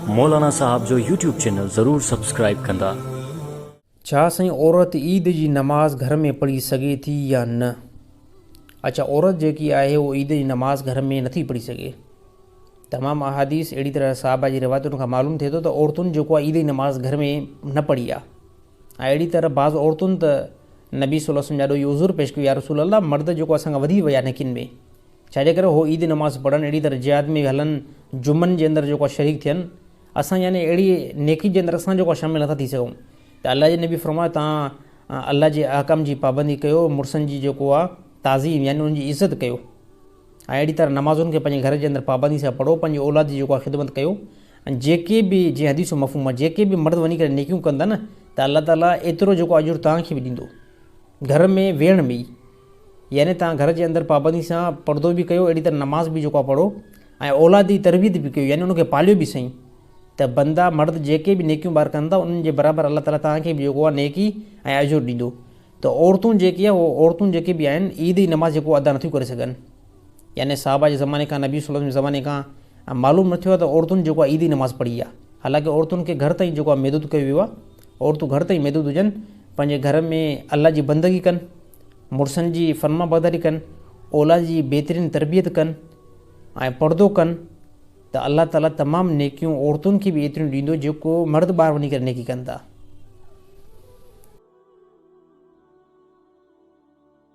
مولانا صاحب جو YouTube channel ضرور سبسڪرائيب ڪندا. ڇا سائين عورت عيد جي نماز گهر ۾ پڙهي سگهي ٿي يا نه اڇا عورت جيڪي آهي هو عيد جي نماز گهر ۾ نٿي پڙهي سگهي تمام احاديث اهڙي طرح صحابه جي روايتن کان معلوم ٿئي ٿو ته عورتن جيڪو آهي عيد جي نماز گهر ۾ نه پڙهي آهي ۽ اهڙي طرح بعض عورتن ته نبي صلي الله عليه وسلم جي آڏو اهو عذر پيش ڪيو يا رسول الله مرد جيڪو اسان کان وڌي ويا نيڪين ۾. ڇا جي ڪري هو عيد نماز پڙهن، اهڙي طرح جهاد ۾ هلن، جمعن جي اندر جيڪو شريڪ ٿين، اسان يعني اهڙي نيڪي جي اندر اسان جيڪو شامل نٿا ٿي سگهون ته الله جي نبي فرمايو توهان الله جي احڪام جي پابندي ڪيو، مڙسن جي جيڪو آهي تعظيم يعني انهن جي عزت ڪيو ۽ اهڙي طرح نمازن کي پنهنجي گهر جي اندر پابندي سان پڙهو، پنهنجي اولاد جي جيڪو آهي خدمت ڪيو ۽ جيڪي به جيئن حديث جو مفهوم آهي جيڪي به مرد وڃي ڪري نيڪيون ڪن ٿا نه ته الله تعالي ايترو جيڪو اجر توهان کي به ڏيندو گهر ۾ ويهڻ ۾ ئي. يعني توهان گهر جي اندر پابندي سان پردو به ڪيو اهڙي طرح نماز به جيڪو آهي پڙهو ۽ اولاد جي تربيت به ڪيو يعني ان کي پاليو به سهي ته بندا مرد جيڪي به نيڪيون ٻار ڪن ٿا انهن جي برابر الله تعالي توهان کي به جيڪو آهي نيڪي ۽ اجر ڏيندو ته عورتون جيڪي آهي اهي عورتون جيڪي به آهن عيد جي نماز جيڪو ادا نٿيون ڪري سگهن يعني صحابه جي زماني کان نبي صلي الله عليه وسلم جي زماني کان معلوم نه ٿيو آهي ته عورتن جيڪو آهي عيد جي نماز پڙهي آهي حالانڪه عورتن کي گهر تائين جيڪو آهي محدود ڪيو ويو آهي عورتون گهر تائين محدود هجن پنهنجي گهر ۾ الله جي بندگي ڪن مڙسن جي فرمانبرداري ڪن، اولاد جي بهترين تربيت ڪن ۽ پردو ڪن ته الله تعاليٰ تمام نيڪيون عورتن کي به ايتريون ڏيندو جيڪو مرد ٻاهر وڃي ڪري نيڪي ڪن ٿا.